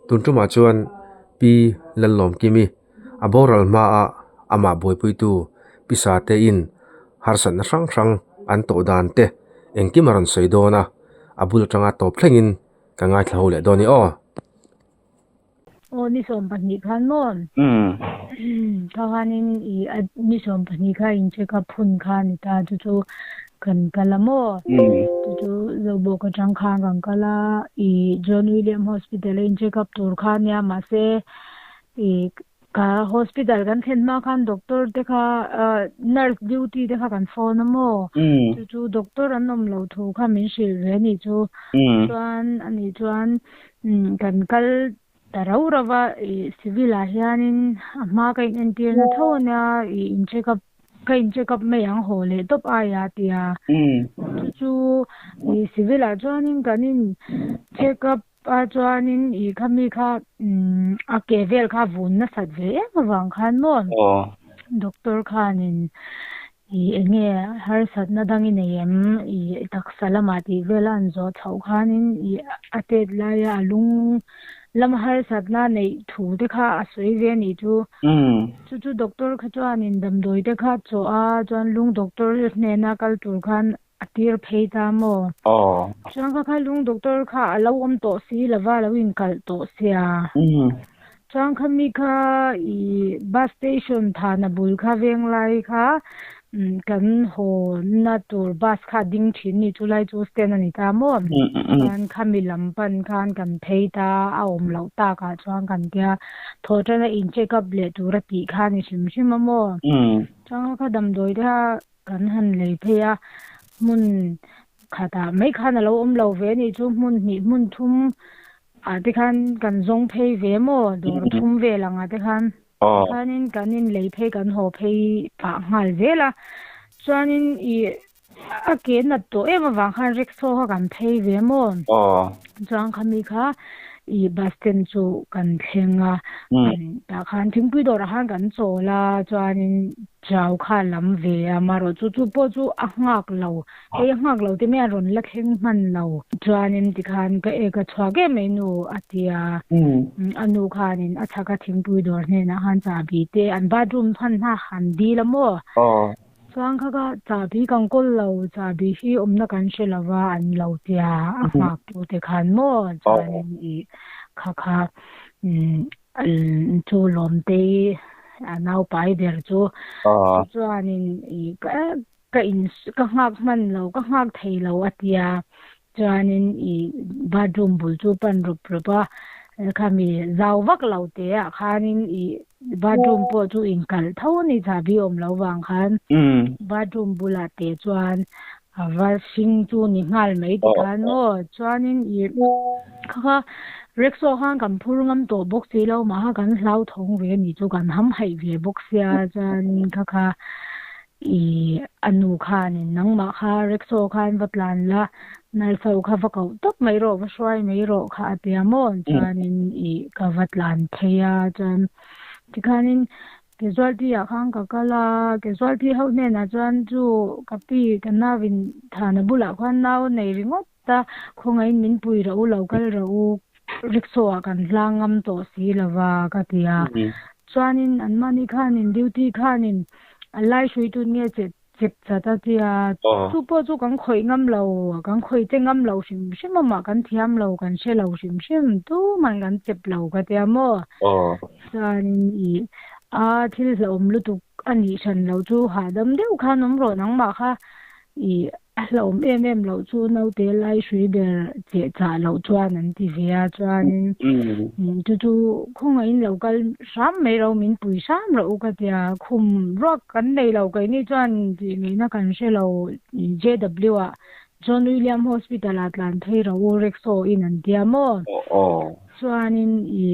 tun ṭumah chuan pi Lalawm Kimi a boral hmaa amah buaipuitu pi Satein harsatna hrang hrang an tawh dan te engkim a rawn sawi dawn a, a bul aṭanga tawp thlengin ka ngaithla ho leh dawn ni aw. Aw ni sawm pahnih khan maw? Umm kha khanin i a ni sawm pahnih kha in check up hun kha ni ta chu chu kan kal a maw? Chu chu zawhbawk atang khan kan kal a i John William Hospital a in check up tur kha nia mahse i Ka hospital kan thlen hma khan doctor te kha nurse duty te kha kan phone a maw chu chu doctor an awm lo thu kha min hrilh ve anih chu chuan anih chuan kan kal ta rau rau va i civil ah hian in a hma ka in entir na tho ania i in check up ka in check up mai ang haw leh tawp ai a tia chu chu i civil ah chuan in kan in check up Pa chuanin i kha mi kha a ke vel kha vun nasat ve em avang khan maw doctor khanin i enge harsatna dang i nei em i taksa lamah tih vela an zawh chhoh khanin i a tet laia a lung lam harsatna neih thu te kha a sawi ve a nih chu. Chu chu doctor kha chuanin damdawi te kha a chawh a chuan lung doctor hnena kal tur khan A tir phei ta maw? Aww. Chuan kha kha lung doctor kha a lo awm tawh si lova a lo inkalh tawh sia. Umm. Chuan kha mi kha ih bus station than a bul kha veng lai kha umm kan hawna tur bus kha a ding thin ni chu lai chu stand a ni ta maw? Umm. Chuan kha mi lam pan khan kan phei ta a awm loh tak ah chuan kan tia thaw tan a in checkup leh tur a tih kha a ni hrim hrim a maw? Umm. Chuan kha kha damdawi te kha Kan han lei phei a, hmun khatah mai khan a lo awm lo ve a nih chu, hmun hnih hmun thum ah te khan kan zawng phei ve maw, dawr thum vel ang ah te khan. Tikhanin kan inlei phei, kan haw phei pah nghal zel a. Chuanin i a ke nat tawh em avang khan rickshaw kha kan phei ve maw? Chuan khami kha i bus stand chu kan thleng a, tah khan thingpui dawrah khan kan chawl a, chuanin Chau kha lam ve a amarawh chu chu pawh chu a nghak lo. Hei a nghak lo te mai a rawn la thleng hman lo. Chuanin tikhan ka e ka chhuak em mai nu a ti a. A nu khanin a chhaka thingpui dawr hnenah khan chahbi te an bathroom hman hna han dil a maw? Chuan kha ka chahbi kan kawl lo, chahbi hi awmna kan hre lo va an lo tia a nghaktu te khan maw? Chuanin i kha kha An chu lawmte i a naupai ber chu chu chuanin ka in ka nghak hman lo, ka nghak thei lo a ti a. Chuanin i bathroom bul chu pan rawp rawp a. Khami zau vak lo teh-ah khanin i bathroom pawh chu inkalh tho a ni, chahbi awm lo vang khan bathroom bulah teh chuan A var hring chu ni nghal mai ti khan maw? Chuanin i kha kha Rexo khan kan phur ngam tawh bawk si lo, mah kha kan hlauthawng ve ni chu kan ham haih ve bawk sia chuanin kha kha i a nu khanin nangmah kha Rexo khan va tlan la, Nalfau kha va koh tawp mai rawh, va hruai mai rawh kha a tia maw? Chuanin i ka va tlan phei a, chuan tikhanin Casualty-ah khan ka kal a, casualty ho hnenah chuan chu ka pi ka nau in thana bulah khan nau nei ringawt a, khawngaihin min pui rah u lo, kal rah u, rickshaw-ah kan hlang ngam tawh si lo va ka ti a. Chuanin an mahni khanin duty khanin a laihrui tun nge chet Chep chat a tia. Aw. Chu pawh chu kan khawih ngam lo, kan khawih che ngam lo hrim hrim a mah kan thiam lo, kan hre lo hrim hrim tuma'n kan chep lo ka tia maw. Aw. Sanin i a thil hlauhawm lutuk a nih hran loh chu hahdam deuh khan awm rawh nangmah kha i a hlauhawm em em loh chu naute lai hrui ber che chah loh chuan an ti ve a, chuanin chu chu khawngaihin lo kal. Hram mai lo min pui hram lo ka tia khum ruak kan nei lo kei ni chuan tih ngei na kan hre lo JW ah John William hospital ah tlan phei ro u Rexo in an tia maw chuanin i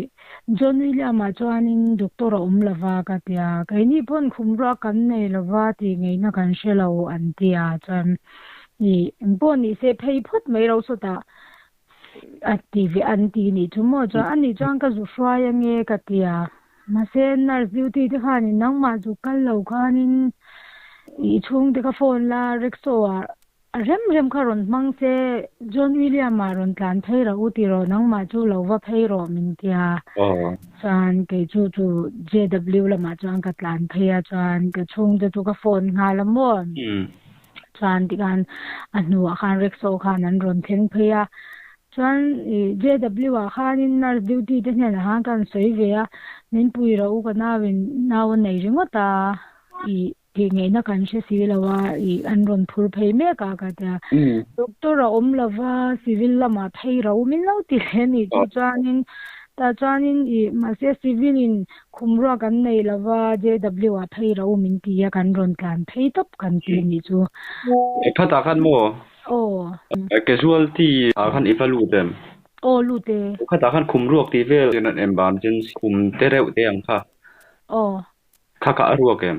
John William ah chuanin doctor a awm lova ka tia kei ni pawn khum ruak kan nei lova tih ngei na kan hre lo an tia chuan i engpawh ni se phei phawt mai ro sawtah a ti ve an ti nih chu maw chuan ani chuan ka zu hruai ange ka ti a mahse nurse duty te khanin nangmah chu kal lo khanin i chhung te ka phone la rickshaw ah a rem rem kha rawn hmang se John William ah rawn tlan phei rah u ti rawh nangmah chu lo va phei rawh min ti a chuan kei chu chu JW lamah chuan ka tlan phei a chuan ka chhungte chu ka phone nghal a maw Chuan tikhan a hnuah khan rickshaw khan an rawn thleng phei a. Chuan i JW ah khanin nurse duty te hnenah khan ka rawn sawi ve a, min pui ro u ka nauin nau a nei ringawt a, i tih ngaihna kan hre si lo a, i an rawn phur phei mek a ka ti a. Doctor a awm lo va, civil lamah phei ro u min lo ti hle a ni tih chuanin tah chuanin i mahse civil in Khum ruak kan nei lo va, JW ah phei ro min ti a, kan rawn tlan phei tawp kan ti a nih chu. I phat ah khan maw? Aw. Casualty ah khan i va lut em? Aw, lut e. I phat ah khan khum ruak tih vel kan rawn en bam chin khum te reuh te ang kha. Aw. Kha kha a ruak em?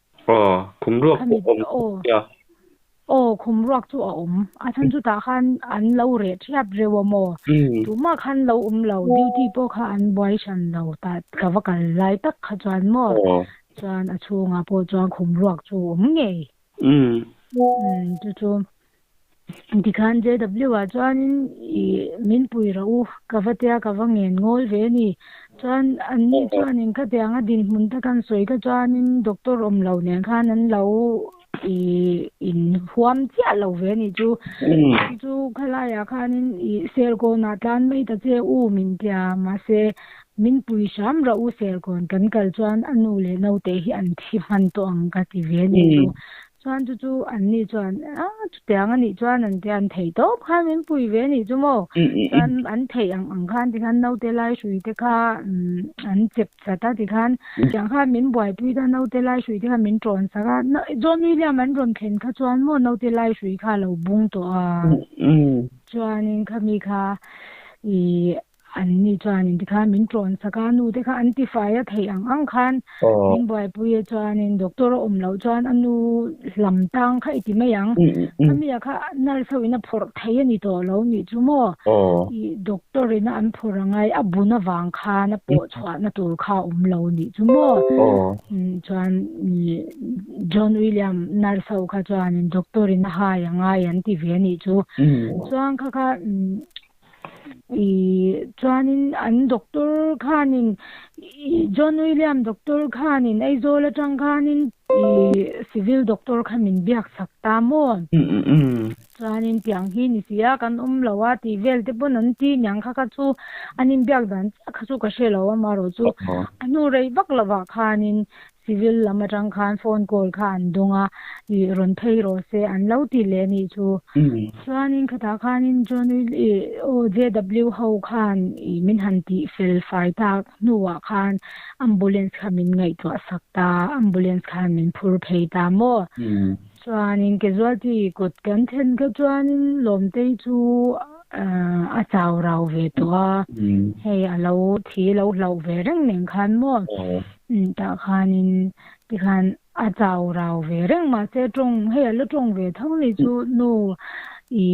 Aw, khum ruak pawh awm nia. Aw, khum ruak chu a awm. A then chutah khan an lo reh thiap reuh a maw. Tun mah khan lo awm lo, duty pawh kha an buai hran lo. Tah ka va kal lai tak kha chuan maw, chuan a chhungah pawh chuan khum ruak chu a awm ngei. Chu chu Tikhan JW ah chuanin i min pui ro u, ka va tia ka va ngen ngawl ve a ni. Chuan an ni chuanin khatiang a dinhmun te kan sawi ka chuanin doctor awm lo nen khan an lo i in huam chiah lo ve a nih chu. Kan chu khalaiah khanin i serkawnah tlan mai ta che u min tia. Mahse min pui hram ro u serkawn kan kal chuan a nu leh naute hi an thi hman tawh ang ka ti ve a nih chu. Chuan chu chu an ni chuan, A, chutiang a nih chuan an tia, an thei tawp khan min pui ve anih chu maw? Chuan an thei ang ang khan ti khan naute lai hrui te kha an chep chat a ti khan, tiang khan min buaipui ta naute lai hrui te kha min ṭawn sak a, John William an rawn thlen kha chuan maw naute lai hrui kha a lo bung tawh a, chuanin khami kha ih Anni chuanin tikhan min tlawn sak a, nu te kha an tifai a theih ang ang khan min buaipuia chuanin doctor a awm loh chuan a nu lam tang kha i ti mai ang, a mia kha nurse ho in a phawrh thei a ni tawh lo nih chu maw, i doctor in a an phawrh a ngai a bun avang khan a pawh chhuahna tur kha a awm lo nih chu maw, chuan John William nurse ho kha chuanin doctor in a hai a ngai an ti ve a nih chu, chuan kha kha. Chuanin an doctor khanin i John William doctor khanin Aizawl atang khanin i civil doctor kha min biak chak ta maw? Chuanin tiang hi ni si a, kan awm lo a tih vel te pawn an ti niang kha kha chu an inbiak dan chiah kha chu ka hre lo amarawh chu a hnu rei vak lovah khanin Civil lam atang khan phone call kha an dawng a, i rawn phei rawh se an lo tih leh a nih chu. Chuanin khatah khanin John Will i aw JW ho khan i min han tih fel fai tak hnuah khan ambulance kha min ngaihtuah sak ta, ambulance khan min phur phei ta maw. Chuanin casualty kut kan then kha chuanin Lawmtei chu a chau rau ve tawh a, hei a lo thi lo hlauh ve reng nen khan maw. Nen tah khanin tikhan a chau rau ve reng mahse tawng hei a la tawng ve tho ni chu nu i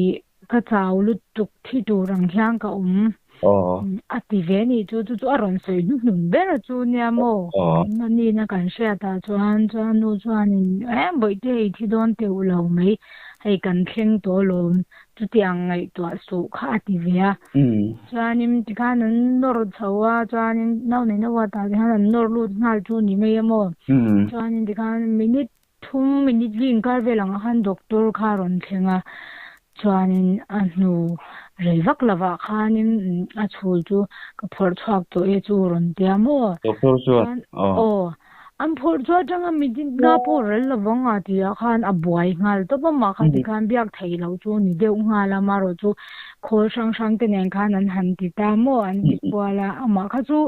ka chau lutuk thi tur ang hian ka awm a ti ve ni chu chu chu a rawn sawi hnu hnu ber a chu nia maw a nina kan hriat ah chuan chuan nu chuan in eh bawihte i thi dawn teuh lo mai hei kan thleng tawh lawm Chutiang ngaihtuah suh kha a ti ve a. Chuanin tikhan an nawr chho a, chuanin no nei no a tah tikhan an nawr lut nghal chu ni mai a maw. Chuanin tikhan minute thum minute li inkar vel ang a khan doctor kha a rawn thleng a, chuanin a hnu rei vak lo ah khanin a chhul chu ka phawrh chhuak tawh e chu rawn ti a maw. Doctor chuan? Aw. An phawrh chu atanga mi dinna pawh rel lo vang a ti ah khan a buai nghal tawp a, mahkha ti khan biak theih loh chu ni deuh nghal a, amarawh chu khawl hrang hrang te nen khan an han ti ta maw an ti kual a, amah kha chu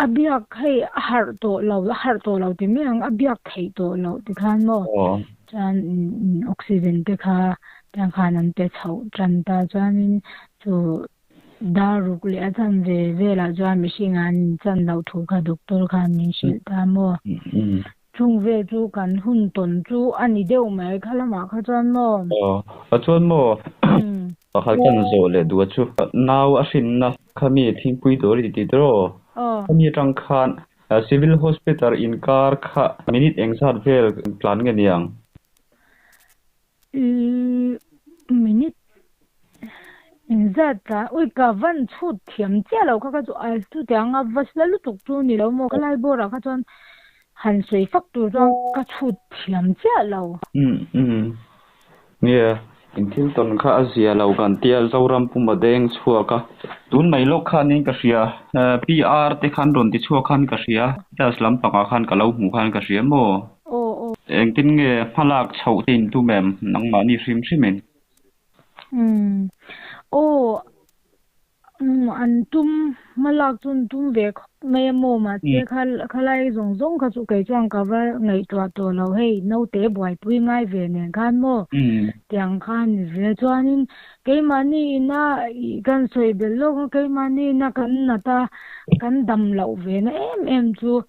a biak hei a harh tawh lo, a harh tawh lo ti mai ang, a biak theih tawh loh ti khan maw chuan oxygen te kha tiang khan an pe chhoh tan ta chuanin chu Dar ruk leh a chan ve velah chuan mihring an inchan loh thu kha doctor khan min hrilh ta maw. Chung vel chu kan hun tawn chu a ni deuh mai kha lamah kha chuan maw. Aw, a chuan maw pakhat khan zawh leh duh a chu. Nau a hrinna kha mi thingpui tur i ti tir aw. Khami atang khan Civil Hospital inkar kha minute eng zat vel tlan nge niang? Minute inzat a, ui ka van chhut thiam chiah lo kha kha chu a chutah ang a va la lutuk chu ni lo maw ka lai bawrah kha chuan han sawi fak tur chuan ka chhut thiam chiah lo. Nge in thil tawn kha a zia lo kan tia Zoram puma deng chhuak a, tun mai lawk khanin ka hria PR te khan rawn ti chhuak khan ka hria, class lampangah khan ka lo hmuh khan ka hria maw? Aw aw. Engtin nge hmalak chhoh te in tum em nangmahni hrim hrimin? Umm. Aw. Umm an tum hmalak chu an tum ve khawp mai a maw mah che kha khalai zawng zawng kha chu kei chuan ka va ngaihtuah tawh lo hei naute buaipui ngai ve nen khan maw tiang khan ni zia chuanin Keimahni ina kan sawi belh lawk a, keimahni ina kan nat a, kan dam loh ve na em em chu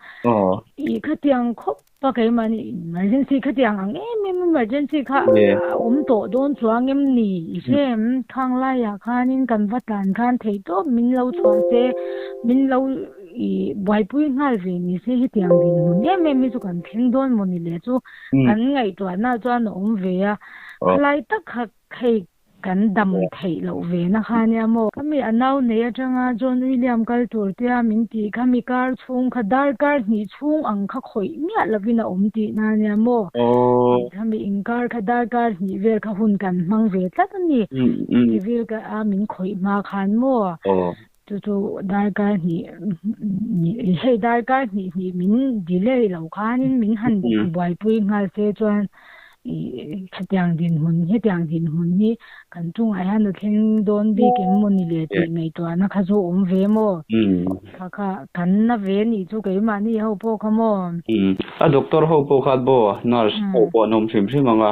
ih khatiang khawp a keimahni emergency khatiang ang em em emergency kha a awm tawh dawn chuang em ni? I hre em? Khang laiah khanin kan va tlan khan thei tawp min lo chhuah se, min lo ih buaipui nghal ve ni se hetiang dinhmun em em hi chu kan thleng dawn maw ni le chu kan ngaihtuahna chuan a awm ve a, khalai tak kha Hei kan dam theih loh ve na kha nia maw? Khami a nau nei atanga John William kal tur tia min tih kha mi kar chhung kha dar kar hnih chhung ang kha khawih miah lovin a awm tih na nia maw? Tih kha mi in kar kha dar kar hnih vel kha hun kan hmang ve tlat a ni. Chivil kha a min khawih hma khan maw? Chu chu dargai hnih hnih hei dargai hnih hnih min delay lo khanin min han buaipui nghal se chuan i hetiang din hun hetiang din hun hi kan chungah hian a thleng dawn bik em maw ni le tih ngaihtuahna kha chu awm ve maw kha kha kan na ve nih chu keimahni ho pawh kha maw. A doctor ho pawh kha bo nurse ho pawh an awm hrim hrim ang a.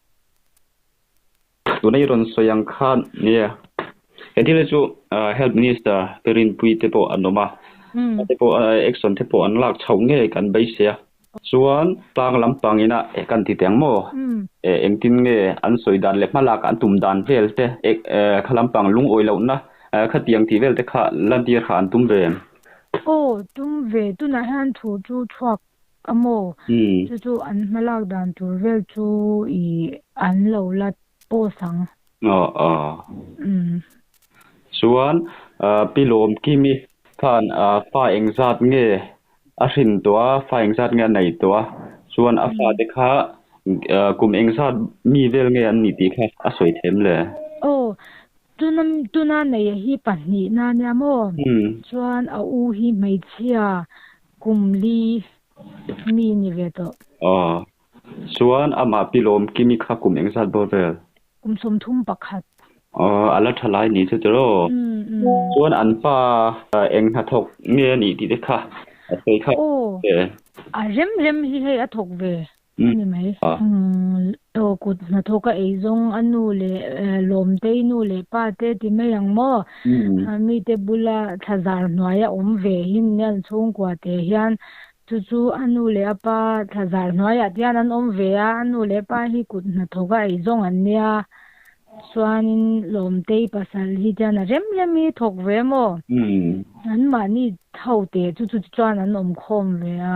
tuna i rawn sawi ang khan nia he thil hi chu health minister pirinpui te pawh an awm a a te pawh action te pawh an lak chho ngei kan beisei a chuan tlang lampang ina kan ti teng maw engtin nge an sawi dan leh hmalak an tum dan vel te kha lampang lungawi loh na khatiang tih vel te kha lantir kha an tum ve em aw tum ve tunah hian thu chu chhuak Ka mu, chu chu an hmalak dan tur vel chu i an lo la pause ang. Aw aw. Chuan Pi Lawmkimi khan fa eng zat nge a hrin tawh a, fa eng zat nge a nei tawh a, chuan a fate kha kum eng zat mi vel nge an nih tih kha a sawi thlem le? Aw, tuna tuna neia hi pahnih na nia maw? Chuan a u hi hmeichhia Kum li mi ni ve tawh. Aww. Chuan amah pi lawm kimi kha kum eng zat bawr vel? Kum sawmthum pakhat. Aww, a la tha lai ni chu ti raw? Umm umm. Chuan an pa eng hna thawk nge a nih tih te kha a sawi thlap ve. Aww, a rem rem hi hei a thawk ve. Ni mai. Aw kut hnathawk a ei zawng a nu leh Lawmtei nu leh pa te ti mai ang maw? Mite bula thlazar hnuai a awm ve hin Nian chhungkua te hian chu chu a nu leh a pa thlazar hnuaiah tian an awm ve a, a nu leh pa hi kut hnathawk a ei zawng an nia chuanin Lawmtei pasal hi tian a rem rem hi thawk ve maw? Anmahni ho te chu chu ti chuan an awm khawm ve a.